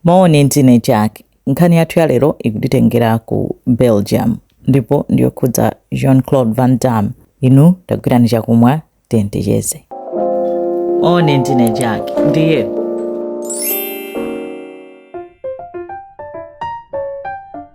Mawoni ndine Jack. Nkhani yathu ya lero ikutitengera ku Belgium ndipo ndiyokhudza Jean-Claude Van Damme. Inu tagwirani chakumwa teni ticheze. Mawoni ndine Jack. Ndiye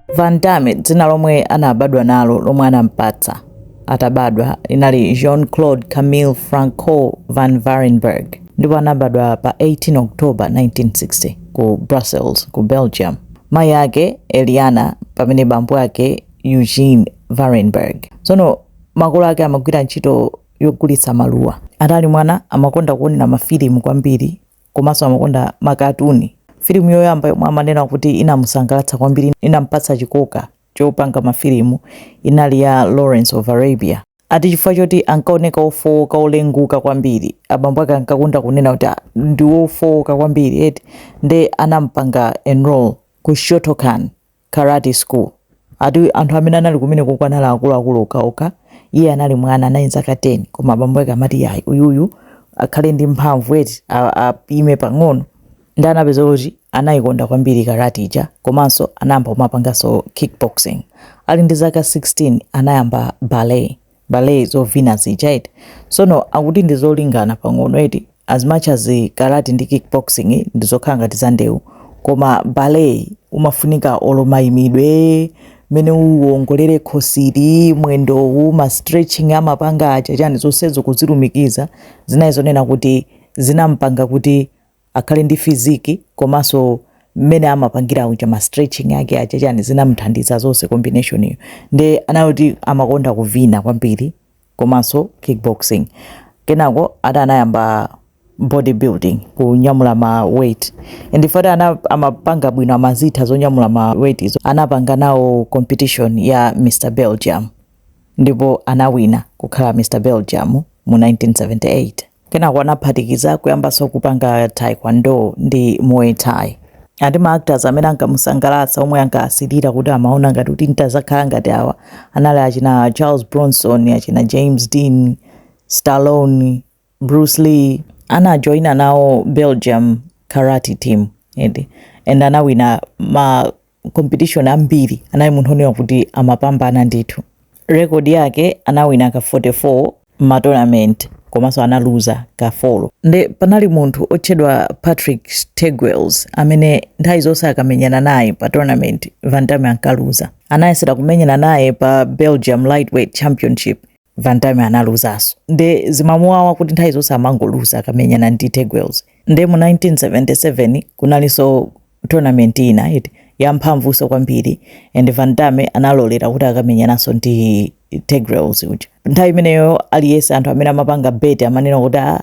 Van Damme dzina lomwe anabadwa nalo lomwe anampatsa atabadwa linali Jean-Claude Camille Francois van Varenberg ndipo anabadwa pa 18 October 1960 ku Brussels ku Belgium. Mayi ake Eliana pamene bambo ake Eugene Varenberg. Tsono makolo ake amagwira ntchito yogulitsa maluwa. Atali mwana amakonda kuonera mafilimu kwambiri komanso amakonda makatuni. Filimu yoyamba yomwe amanena kuti inamusangalatsa kwambiri, inampatsa chikoka chopanga mafilimu, inali ya Lawrence of Arabia. Ati chifukwa choti ankaoneka wofowoka, wolenguka kwambiri, abambo ake ankakonda kunena kuti ah, ndi wofowoka kwambiri eti, nde anampanga enroll ku Shotokan Karate School. Ati anthu amene anali kumenekoko anali akuluakulu okhaokha. Iye anali mwana, anali ndi zaka 10 koma bambo ake amati, Iyayi, uyuyu akhale ndi mphamvu eti, apime pang'ono. Ndiye anapeza kuti anaikonda kwambiri karati ija komanso anayamba kumapanganso kickboxing. Ali ndi zaka 16 anayamba ballet. ballet zovina zija eti sono akuti ndizolingana pang'ono eti as much as karate ndi kickboxing ndizokhala ngati za ndewu koma ballet umafunika olo mayimidwe mene uwongolere khosiri mwendowu ma stretching amapanga aja chani zonsezo kuzilumikiza zinali zonena kuti zinampanga kuti akhale ndi physique komanso mmene amapangira uja ma stretching ake aja chani zinamthandiza zonse combination iyo nde anali woti amakonda kuvina kwambiri komanso kickboxing kenako ati anayamba bodybuilding kunyamula ma weight nde ati amapanga bwino amazitha zonyamula ma weight izo anapanga nawo competition ya mr belgium ndipo anawina kukhala mr belgium mu 1978 kenako anaphatikiza kuyambanso kupanga taekwondo ndi muay thai ati ma actors amene ankamusangalatsa omwe ankaasilira kuti amaona ngati kuti ntazakhala ngati awa anali achina charles bronson achina james dean stallone bruce lee anajoyina nawo belgium karate team eti and anawina ma competition ambiri anali munthu onena kuti amapambana ndithu rekodi yake anawina ka 44 matournament komanso analuza ka 4 nde panali munthu otchedwa patrick teugels amene nthawi zonse akamenyana naye pa tournament van damme ankaluza anayesera kumenyana naye pa belgium lightweight championship Van Damme analuzaso nde zimamuwawa kuti nthawi zonse amangoluza akamenyana ndi Teugels nde mu 1977 kunalinso tournament ina eti yamphamvuso kwambiri and Van Damme analolera kuti akamenyananso ndi Teugels uja nthawi imeneyo aliyese anthu amene amapanga bet amanena kuti ah,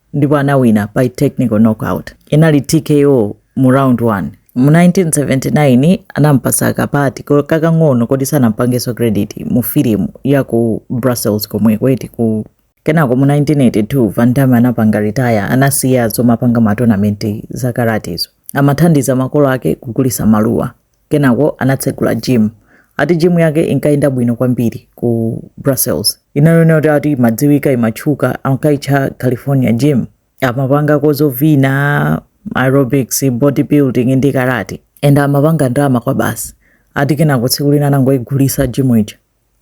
ndipo anawina by technical knockout inali tko mu round 1 mu 1979 anampasa kapati ko- kakang'ono koti sanampangeso credit mu filimu ya ku brussels komweko eti ku kenako mu 1982 van damme anapanga retire anasiya zomapanga matonamenti za karatezo amathandiza makolo ake kugulisa maluwa Kenako anatsegula gym. Ati gym yake inkayenda bwino kwambiri ku Brussels. Inali yonena kuti ati imadziwika, imatchuka, ankayitcha California gym. Amapangako zovina, aerobics, bodybuilding ndi karate. And amapanga ndalama kwabasi. Ati kenako tsiku lina anangoyigulitsa gym ija.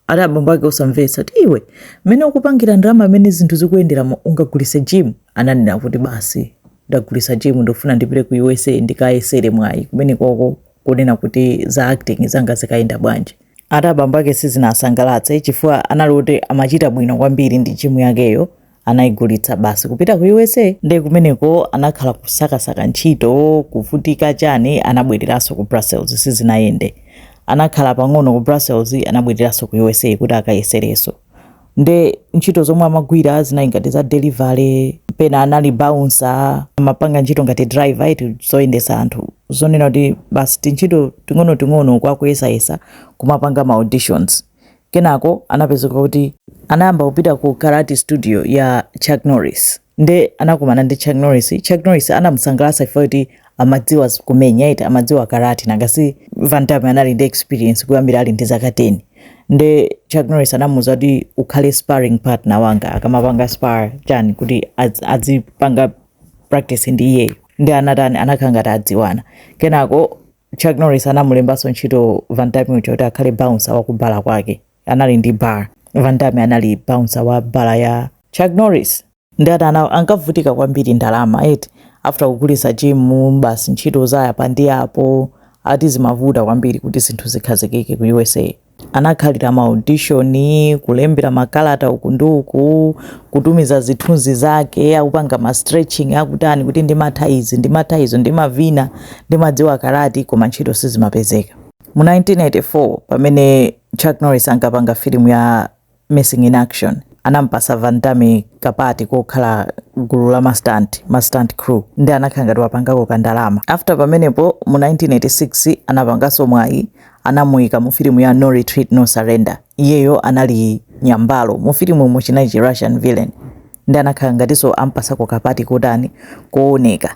ati abambo ake osamvetsa kuti iwe mmene ukupangira ndalama mmene zinthu zikuyendera ungagulise gym ananena kuti basi ndagulisa gym ndikufuna ndipite ku usa ndikayesere mwayi kumene koko kunena kuti za acting zanga zikayenda bwanji ati abambo ake sizinasangalatse chifukwa anali kuti amachita bwino kwambiri ndi gym yakeyo anaigulitsa basi kupita ku usa nde kumeneko anakhala kusakasaka ntchito kuvutika chani anabwereranso ku brussels sizinayende anakhala pang'ono ku brussels anabwereranso ku usa kuti akayesereso nde ntchito zomwe amagwira zinali ngati za delivery pena anali bouncer amapanga ntchito ngati driver eti zoyendesa anthu zonena kuti basi tintchito ting'onoting'ono kwinaku akuyesayesa kumapanga ma auditions Kenako anapezeka kuti anayamba kupita ku karate studio ya Chuck Norris nde anakumana ndi Chuck Norris. Chuck Norris anamusangalatsa chifukwa kuti amadziwa kumenya eti amadziwa karate nanga si Van Damme anali ndi experience kuyambira ali ndi zaka 10 nde Chuck Norris anamuuza kuti ukhale sparring partner wanga akamapanga spar chani kuti azipanga practice ndi iyeyo nde anatani anakhala ngati adziwana kenako Chuck Norris anamulembanso ntchito Van Damme uja kuti akhale bouncer wa kubala kwake. Anali ndi bar. Van Damme anali bouncer wa bala ya Chuck Norris. Nde atani ankavutika kwambiri ndalama eti after kugulitsa gym basi ntchito zayapa ndi apo ati zimavuta kwambiri kuti zinthu zikhazikike ku USA. Anakhalira ma audition, kulembera makalata uku ndi uku, kutumiza zithunzi zake akupanga ma stretching akutani kuti ndimatha izi, ndimatha izo, ndimavina, ndimadziwa karate, koma ntchito sizimapezeka. Mu 1984 pamene Chuck Norris ankapanga filimu ya Missing in Action anampasa Van Damme kapati kokhala gulu la ma stunt, ma stunt crew, nde anakhala ngati wapangako ka ndalama. After pamenepo mu 1986 anapangaso mwayi anamuyika mu filimu ya No Retreat No Surrender, iyeyo anali nyambalo, mu filimumu chinali chi Russian villain, nde anakhala ngatinso ampasako kapati kotani, kowoneka.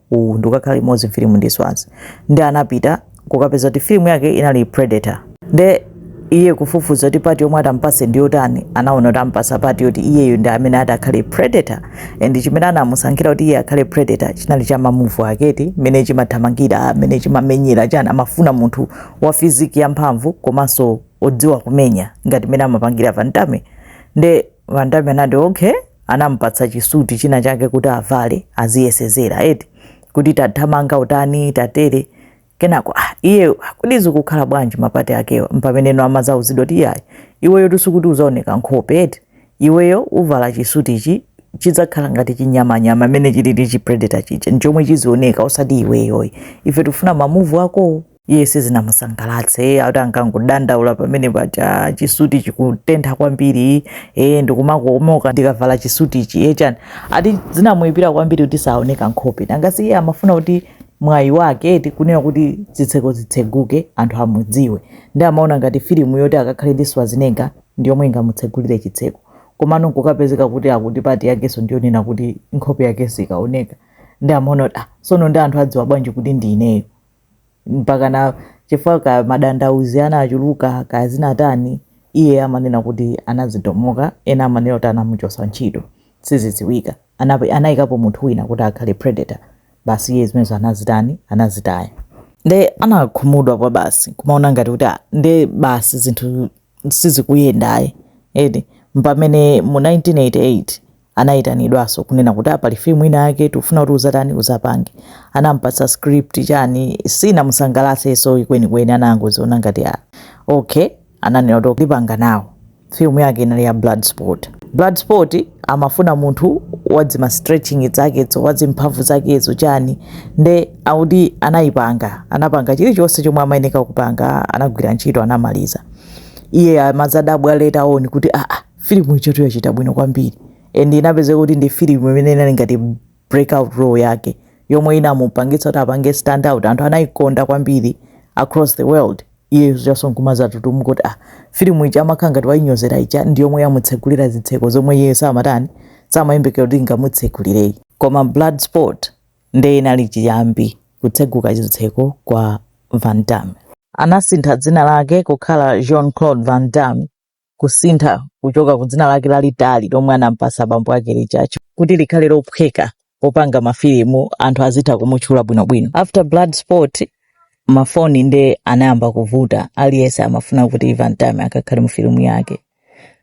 uwu ndikukakhala limodzi mfilimu ndi Schwarzy nde atapita kukapeza kuti filimu yake inali predator nde iye kufufuza kuti pati yomwe atampase ndi yotani anaona kuti ampasa pati yoti iyeyo ndi amene ati akhale predator and chimene anamusankhira kuti iye akhale predator chinali cha mamuvu ake eti mmene chimathamangira mmene chimamenyera chani amafuna munthu wa fiziki yamphamvu komanso odziwa kumenya ngati mmene amapangira Van Damme nde Van Damme anati okay anampatsa chisuti china chake kuti avale aziyesezera eti kuti tathamanga utani tatere kenako ah, iye akuti zikukhala bwanji mapati akewa mpameneno amazauzidwa kuti iyayi iweyo sikuti uzaoneka nkhope eti iweyo uvala chisuti ichi chidzakhala ngati chinyamanyama mmene chilili chipredator chija nchomwe chizioneka osati iweyo ayi ife tikufuna mamuvu akowo iye sizinamusangalatse ati ankangodandaula pamene paja chisuti chikutentha kwambiri e ndikumakomoka ndikavala chisutichi e chani ati zinamuyipira kwambiri kuti saoneka nkhope nanga si iye amafuna kuti mwayi wake eti kunena kuti zitseko zitseguke anthu amudziwe nde amaona ngati filimu yoti akakhale ndi Schwarzenegger ndi yomwe ingamutsegulire chitseko komano nkukapezeka kuti akuti pati yakenso ndiyonena kuti nkhope yakenso sikaoneka nde amaona kuti ah tsono nde anthu adziwa bwanji kuti ndi ineyo mpakana chifukwa kaya madandaulo anachuluka kaya zinatani iye amanena kuti anadzidomoka ena amanena kuti anamuchosa ntchito sizidziwika Anap- anayikapo munthu wina kuti akhale predator basi iye zimenezo anazitani anazitaya nde anakhumudwa kwa basi kumaona ngati kuti "Ah, nde basi zinthu sizikuyenda ayi eti mpamene mu 1988 anayitanidwaso kunena kuti ah, pali film ina yake tikufuna kuti uzatani uzapange anampatsa script chani sinamusangalaseso kwenikweni anangoziona ngati ah, okay ananena kuti ndipanga nawo film yake inali ya Bloodsport Bloodsport amafuna munthu wadzima stretching zakezo wadzimphamvu zakezo chani nde akuti anaipanga anapanga chilichonse chomwe amayeneka kupanga anagwira ntchito anamaliza iye amazadabwa later on kuti aa ah, ah, filimu ijatu yachita bwino kwambiri and inapezeka kuti ndi filimu imene inali ngati breakout role yake yomwe inamupangitsa kuti apange stand out anthu anayikonda kwambiri across the world iye zedi nkumazatutumuka kuti ah filimu ija amakhala ngati wayinyozera ija ndi yomwe yamutsegulira zitseko zomwe iye samatani samayembekera kuti ingamutsegulire ayi koma Bloodsport Nde inali chiyambi kutseguka chitseko kwa Van Damme. Anasintha dzina lake kukhala Jean Claude Van Damme kusintha kuchoka ku dzina lake lalitali lomwe anampatsa bambo ake lija ch- kuti likhale lophweka popanga mafilimu anthu azitha kumutchula bwinobwino. After Bloodsport mafoni nde anayamba kuvuta aliyense amafuna kuti Van Damme akakhale mu filimu yake.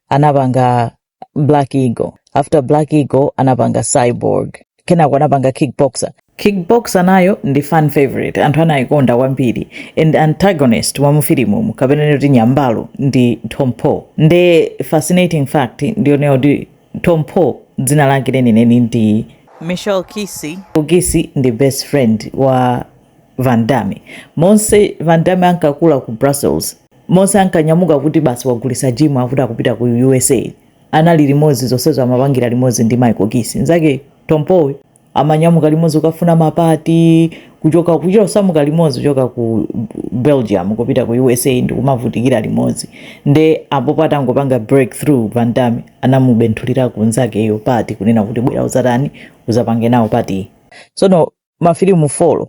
Anapanga black eagle after black eagle anapanga cyborg kenako anapanga kickboxer kickboxer nayo ndi fan favorite anthu anayikonda kwambiri and antagonist wa mufilimumu kapena kuti nyambalo ndi tong po nde fascinating fact ndiyonena kuti tong po dzina lake lenileni ndi michel qissi qissi ndi best friend wa van damme monse van damme ankakula ku brussels Monse ankanyamuka kuti basi wagulitsa gym akuti akupita ku usa anali limodzi zonsezo amapangira limodzi ndi Michel Qissi nzake Tong Po-yi amanyamuka limodzi kukafuna mapati kuchoka kusamuka limodzi kuchoka ku Belgium kupita ku usa ndikumavutikira limodzi nde apopo atangopanga breakthrough Van Damme anamubenthulirako nzakeyo pati kunena kuti bwera uzatani uzapange nawo pati sono mafilimu folo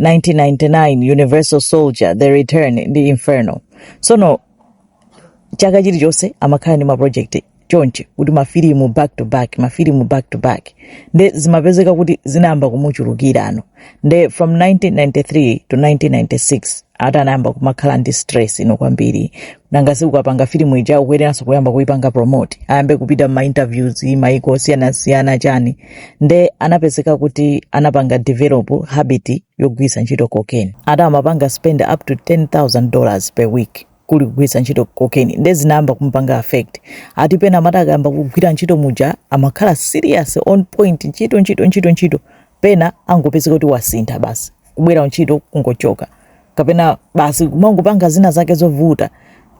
1999 universal soldier the return ndi inferno sono chaka chilichonse amakhala ndi maprojekti choncho kuti mafilimu back to back mafilimu back to back nde zimapezeka kuti zinayamba kumuchulukira ano nde from 1993 to 1996 ati anayamba kumakhala ndi stress ino kwambiri nanga si ukapanga filimu ija ukuyeneranso kuyamba kuipanga promote ayambe kupita m'mainterviews maiko osiyanasiyana chani nde anapezeka kuti anapanga develop habit yogwiritsa ntchito cocaine ati amapanga spend up to 10000 dollars per week kugwiritsa ntchito cocaine nde zinayamba kumupanga affect ati pena amati akayamba kugwira ntchito muja amakhala serious on point ntchito ntchito ntchito ntchito pena angopezeka kuti wasintha basi kubwera ntchito kungochoka kapena basi kumangopanga zina zake zovuta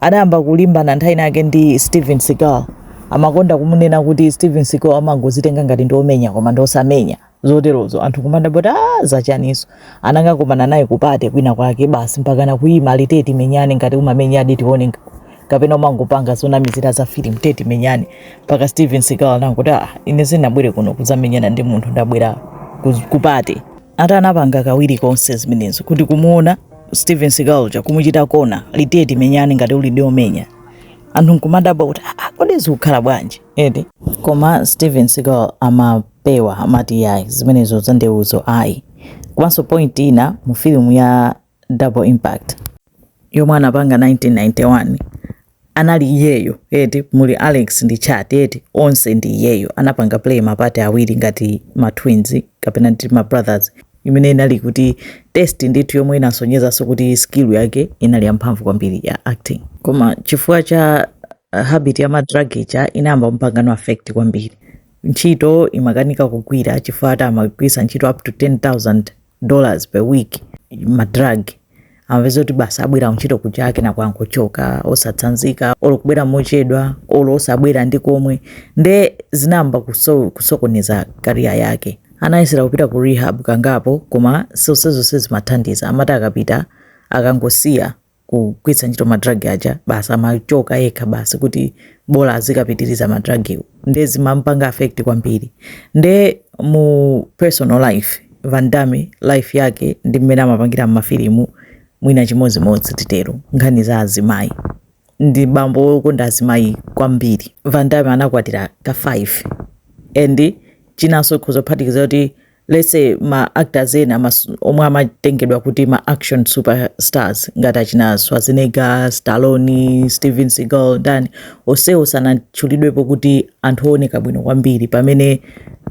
adayamba kulimbana nthawi yake ndi Steven Seagal amakonda kumunena kuti Steven Seagal amangozitenga ngati ndi omenya koma ndi osamenya zoterozo anthu kumadabwa kuti ah, zachaninso anangokumana naye ku party kwina kwake basi mpaka anakaima ali tiye ti menyane ngati umamenya di tione kapena umangopanga zonamizira za film tiye timenyane mpaka Steven Seagal anangoti ah, ine sinabwere kuno kuzamenyana ndi munthu ndabwera ku party ati anapanga kawiri konse zimenezo kuti kumuona Steven Seagal uja kumuchita kona ali tiye timenyane ngati ulidi omenya anthu nkumadabwa kuti ah, ah, kodi zikukhala bwanji eti koma Steven Seagal amapewa amati yayi zimenezo zandeuzo ayi komanso point ina mu filimu ya double impact yomwe anapanga 1991 anali iyeyo eti muli alex ndi Chad eti onse ndi iyeyo anapanga play mapati awiri ngati ma twins kapena ndi ma brothers imene inali kuti test ndithu yomwe inasonyezanso kuti skill yake inali yamphamvu kwambiri ya acting koma chifukwa cha uh, habit ya madrug ija inayamba mpangano affect kwambiri ntchito imakanika kugwira chifukwa ati amagwiritsa ntchito up to 10000 dollars per week madrug amapeza kuti basi abwera ntchito kuja akanangochoka osatsanzika olo kubwera mochedwa olo osabwera nkomwe nde zinayamba kuso, kusokoneza kariya yake anayesera kupita ku rehab kangapo koma zonsezo sizimathandiza amati akapita akangosiya kugwiritsa ntchito madrug aja basi amachoka yekha basi kuti bola azikapitiriza madrugwo nde zimampanga affect kwambiri nde mu personal life Van Damme life yake ndi mmene amapangira mmafilimu mwina chimodzimodzi titero nkhani za azimayi ndi bambo wokonda azimayi kwambiri Van Damme anakwatira ka 5 and chinanso kuzaphatikiza kuti let's say ma actors ena mas- omwe amatengedwa kuti ma action superstars ngati achina Schwarzenegger, Stallone, Steven Seagal ndi ndani onsewo sanatchulidwepo kuti ndi anthu ooneka bwino kwambiri pamene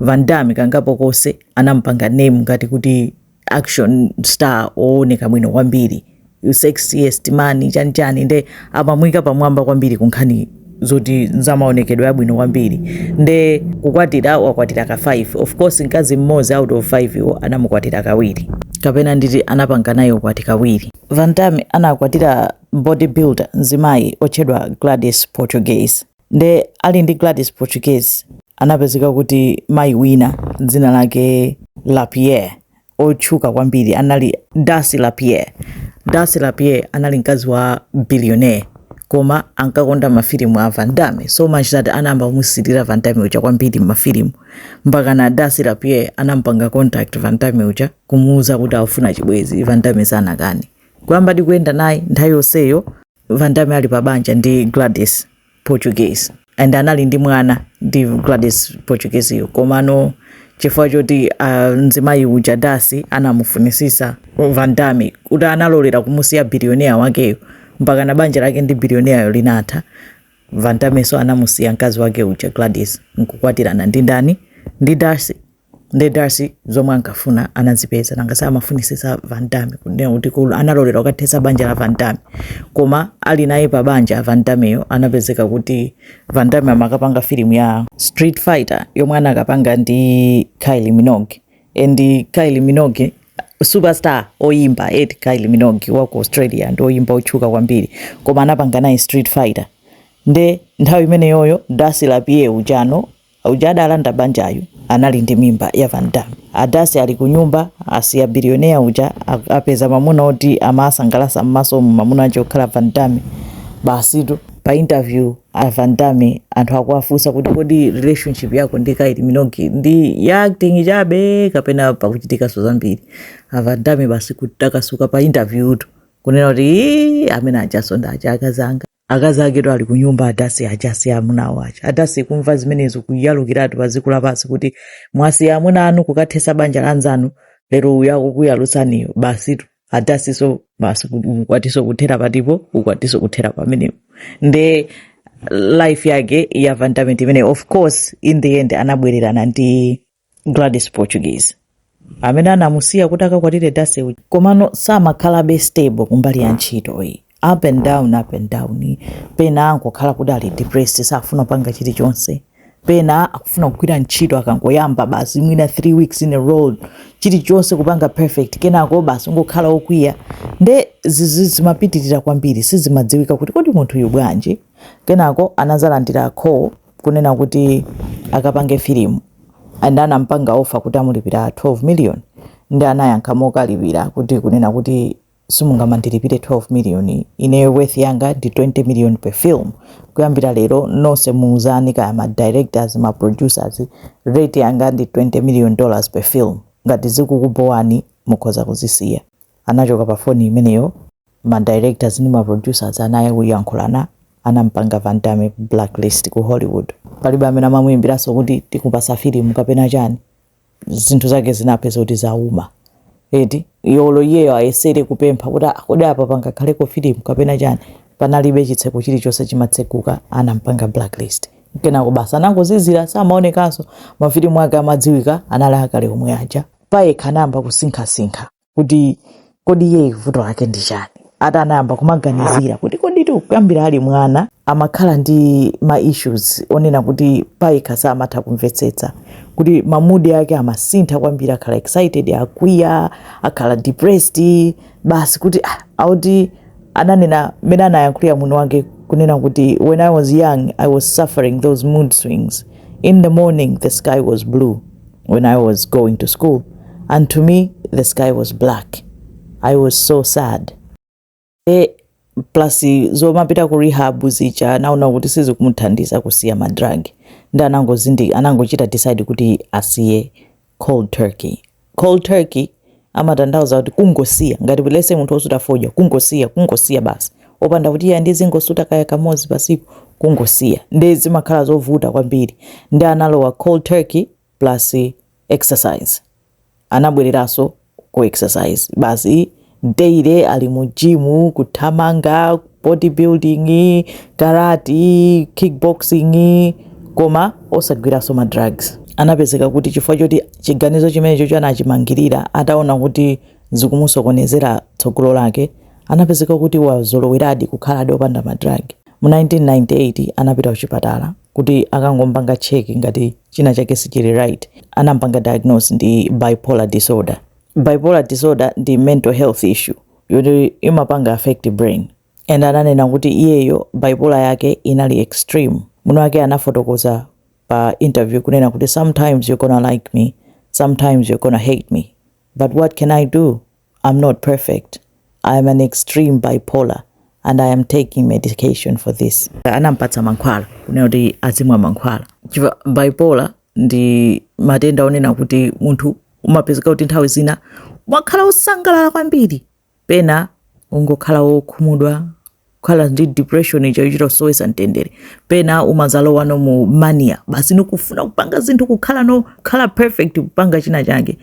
Van Damme kangapo konse anamupanga name ngati kuti action star ooneka bwino kwambiri you sexiest man chani chani nde amamuika pamwamba kwambiri kunkhani zoti ndi wamaonekedwe abwino kwambiri nde kukwatira wakwatira ka 5 of course mkazi mmodzi out of 5 yo anamukwatira kawiri kapena nditi anapanga naye ukwati kawiri van damme anakwatira bodybuilder mzimayi otchedwa gladys portugues nde ali ndi gladys portugues anapezeka kuti mayi wina dzina lake lapierre otchuka kwambiri anali Darcy LaPierre. Darcy LaPierre anali mkazi wa billionaire koma ankakonda mafilimu a Van Damme so much that anayamba kumusilira Van Damme uja kwambiri m'mafilimu mpakana Darcy LaPierre anampanga contact Van Damme uja kumuuza kuti afuna chibwenzi Van Damme sanakani kuyamba ndikuyenda naye nthawi yonseyo Van Damme ali pa banja ndi Gladys Portugues and anali ndi mwana ndi Gladys Portugues yo komano chifukwa choti ah, mzimayi uja Darcy anamufunisisa Van Damme kuti analolera kumusiya bilionea wakeyo mpakana banja lake ndi bilioneayo linatha Van Damme nso anamusiya mkazi wake uja Gladys nkukwatirana ndi ndani ndi Darcy Nde Darcy zomwe ankafuna anazipeza, nanga samafunisisa Van Damme kunena kuti cool analolera kukathetsa banja la Van Damme. Koma ali naye pa banja Van Dammeyo anapezeka kuti Van Damme amakapanga filimu ya Street Fighter yomwe anakapanga ndi Kylie Minogue. And Kylie Minogue superstar oyimba eti Kylie Minogue wa ku Australia ndi oyimba otchuka kwambiri koma anapanga naye Street Fighter. Nde nthawi imeneyoyo Darcy LaPier ujano Uja adalanda banjayu anali ndi mimba ya Van Damme. A Darcy ali kunyumba asiya billionaire uja ak- apeza mamuna oti amasangalasa mmasomu mamuna ake okhala Van Damme. Basitu pa interview a Van Damme anthu akuwafunsa kuti kodi relationship yako ndi Kylie Minogue ndi ya acting chabe kapena pakuchitikaso zambiri. A Van Damme basi kutakasuka pa interview tu kunena kuti "Ii, amene ajanso ndi aja akazanga. akazaketu ali kunyumba a Darcy aja si amuna awo aja a Darcy kumva zimenezo kuyalukiratu pa dziko lapansi kuti mwasiya amuna anu kukathesa banja la nzanu lero uyu akukuyalutsaniyo basitu a Darcy so basi ukwatiso kuthera patipo ukwatiso kuthera pamenepo nde life yake ya van damme ndi imeneyo of course in the end anabwererana ndi gladys portuguese amene anamusiya kuti akakwatire darcy uja komano samakhalabe stable kumbali ya ntchito iyi up and down up and down pena angokhala kuti ali depressed safuna kupanga chilichonse pena akufuna kugwira ntchito akangoyamba basi mwina 3 weeks in a row chilichonse kupanga perfect kenako basi ngokhala okwiya nde izi zimapitirira kwambiri sizimadziwika kuti kodi munthuyu bwanji kenako anazalandira call kunena kuti akapange filimu and anampanga offer kuti amulipira 12 million nde anayankha mokalipira kuti kunena kuti simungamandilipire 12 million ineyo worth yanga ndi 20 million per film kuyambira lero nonse muuzani kaya ma directors ma producers rate yanga ndi 20 million dollars per film ngati zikukubowani mukhoza kuzisiya anachoka pa foni imeneyo ma directors ndi ma producers anaya kuyankhulana anampanga van damme blacklist ku hollywood palibe amene amamuimbiranso kuti tikupasa filimu kapena chani zinthu zake zinapeza kuti zauma eti olo iyeyo ayesere kupempha kuti "Ah, kodi apa pangakhaleko filimu kapena chani panalibe chitseko chilichonse chimatsekuka anampanga blacklist kenako basi anangozizira samaonekanso mafilimu ake amadziwika anali akale omwe aja payekha anayamba kusinkhasinkha kuti kodi iye vuto lake ndi chani ati anayamba kumaganizira kuti kodi kuyambira ali mwana amakhala ndi ma issues onena kuti payekha samatha kumvetsetsa kuti mamudi ake amasintha kwambiri akhala excited akwiya akhala depressed basi kuti ah, akuti ananena mmene anayankhulira mwini wake kunena kuti when i was young i was suffering those mood swings in the morning the sky was blue when I was going to school and to me the sky was black. I was so sad. E, plus zomapita ku rehab zija anaona kuti sizikumuthandiza kusiya madrug nde anangozindi anangochita decide kuti asiye cold turkey. Cold turkey amatanthauza kuti kungosiya ngati lese munthu osuta fodya kungosiya kungosiya basi opanda kuti iye ndizingosuta kaya kamodzi pasiku kungosiya ndi zimakhala zovuta kwambiri nde analowa cold turkey plus exercise anabwereranso ku exercise basi daily ali mu gym kuthamanga bodybuilding, karati, kickboxing koma osagwiranso ma drugs. Anapezeka kuti chifukwa choti chiganizo chimenecho anachimangirira ataona kuti zikumusokonezera tsogolo lake, anapezeka kuti wazoloweradi kukhaladi opanda ma drug. Mu 1998 anapita kuchipatala kuti akangompanga check ngati china chake sichili right. Anampanga diagnose ndi bipolar disorder. Bipolar disorder ndi mental health issue. yoti imapanga affect brain and ananena kuti iyeyo bipolar yake inali extreme mwini wake anafotokoza pa interview kunena kuti sometimes you're gonna like me sometimes you're gonna hate me but what can i do i'm not perfect i am an extreme bipolar and i am taking medication for this anampatsa mankhwala kunena kuti azimwa mankhwala chifukwa bipolar ndi matenda onena kuti munthu umapezeka kuti nthawi zina umakhala wosangalala kwambiri pena ungokhala wokhumudwa kukhala ndi depression yochita kusowesa mtendere pena umazalowano mu mania basi nikufuna kupanga zinthu kukhalano kukhala perfect kupanga china chake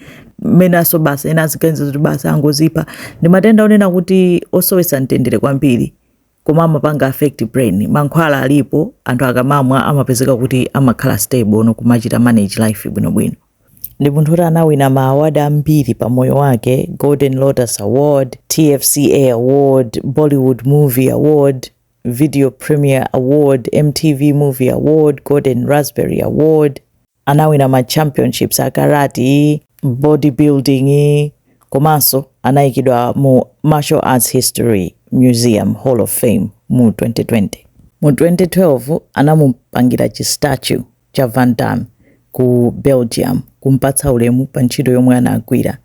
penaso basi ena aziganiza kuti basi angozipha ndi matenda onena kuti osowesa mtendere kwambiri koma amapanga affect brain mankhwala alipo anthu akamamwa amapezeka kuti amakhala stableno kumachita manage life bwinobwino ndi munthu woti anawina ma award ambiri pa moyo wake golden lotus award tfca award bollywood movie award video premier award mtv movie award golden raspberry award anawina ma championships a karati, bodybuilding komanso anayikidwa mu Martial Arts History Museum Hall of Fame mu 2020. Mu 2012 anamupangira chi statue cha Van Damme ku Belgium kumpatsa ulemu pa ntchito yomwe anagwira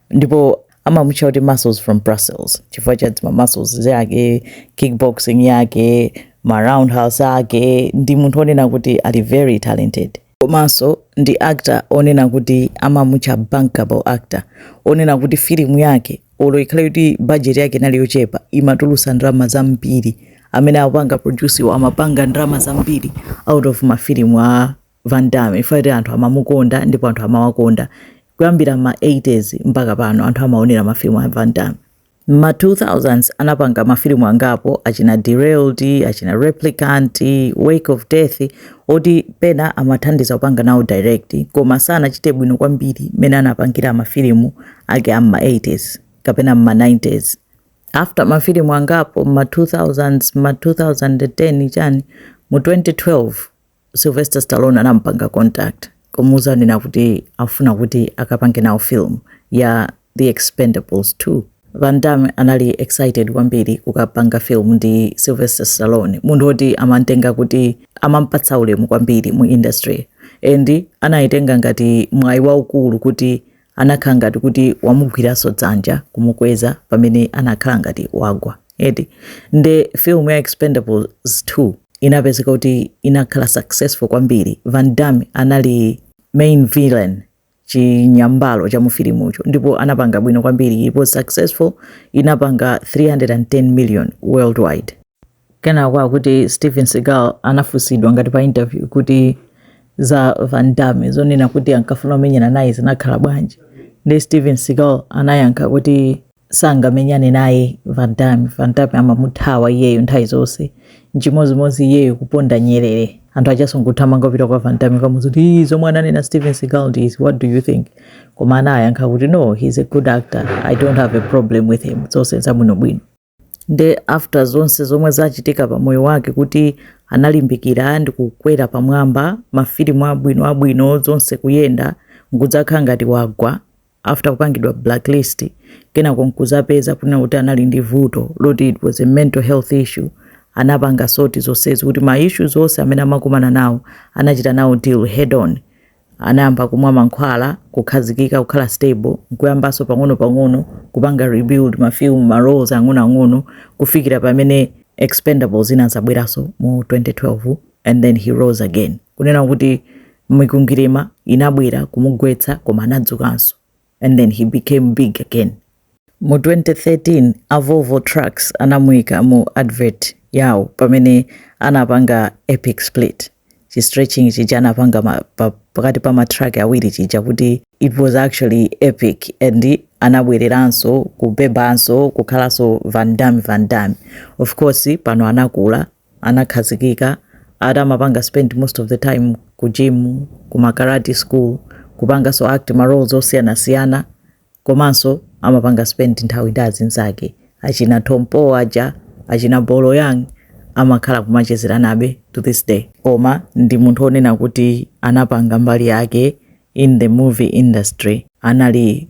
ndipo amamutcha kuti muscles from brussels chifukwa cha zima muscles zake kickboxing yake ma roundhouse ake ndi munthu onena kuti ali very talented komanso ndi actor onena kuti amamutcha bankable actor onena kuti filimu yake olo ikhale kuti budget yake inali yochepa imatulusa ndalama zambiri amene apanga produce wa amapanga ndalama zambiri out of mafilimu a Van Damme ifakti anthu amamukonda ndipo anthu amawakonda kuyambira ma 80s mpaka pano anthu amaonera mafilimu a Van Damme. Ma 2000s anapanga mafilimu angapo achina Derailed, achina Replicant, Wake of Death oti pena amathandiza kupanga nawo direct koma sanachite bwino kwambiri mmene anapangira mafilimu ake a ma 80s kapena ma 90s. After mafilimu angapo ma 2000s ma 2010 chani mu 2012 Sylvester Stallone anampanga contact kumuuza kunena kuti afuna kuti akapange nawo film ya The Expendables 2. Van Damme anali excited kwambiri kukapanga film ndi Sylvester Stallone, munthu oti amantenga kuti amampatsa ulemu kwambiri mu industry and anaitenga ngati mwayi waukulu kuti Anakhala ngati kuti wamugwiranso dzanja kumukweza pamene anakhala ngati wagwa eti nde film ya expendables 2 inapezeka kuti inakhala successful kwambiri van damme anali main villain chinyambalo cha mufilimucho ndipo anapanga bwino kwambiri it was successful inapanga 310 million worldwide kenako akuti Steven Seagal anafunsidwa ngati pa interview kuti za van damme zonena kuti ankafuna kumenyana naye zinakhala bwanji nde Steven Seagal anayankha kuti sangamenyane naye van damme van damme amamuthawa iyeyo nthawi zonse nchimodzimodzi iyeyo kuponda nyerere anthu achasanso nkuthamanga kupita kwa van damme kukamuuza kuti "Ii, zomwe ananena Steven Seagal ndi izi what do you think koma anayankha kuti no he's a good actor i don't have a problem with him zonse zabwinobwino nde after zonse zomwe zachitika pa moyo wake kuti analimbikira ndi kukwera pamwamba mafilimu abwino abwino zonse kuyenda nkudzakhala ngati wagwa after kupangidwa blacklist kenako nkuzapeza kunena kuti anali ndi vuto loti it was a mental health issue anapanga sort zonsezi kuti ma issues onse amene amakumana nawo anachita nawo deal head on anayamba kumwa mankhwala, kukhazikika, kukhala stable, nkuyambanso pang'onopang'ono kupanga rebuild ma film, ma roles ang'onoang'ono kufikira pamene Expendables inazabweranso mu 2012 and then he rose again. Kunena kuti mikwingwirima inabwera kumugwetsa koma anadzukanso. and then he became big again. Mu 2013 a Volvo Trucks anamuika mu advert yawo pamene anapanga epic split chi stretching chija anapanga ma, pa, pakati pa matruck awiri chija kuti it was actually epic and anabwereranso kubebanso kukhalanso Van Damme Van Damme of course pano anakula anakhazikika ati amapanga spend most of the time ku gym, ku ma karate school, kupanganso act ma roles osiyanasiyana komanso amapanga spend nthawi ndi azinzake achina Tong Po aja, achina Bolo Yeung amakhala kumachezeranabe to this day. Koma ndi munthu onena kuti anapanga mbali yake in the movie industry anali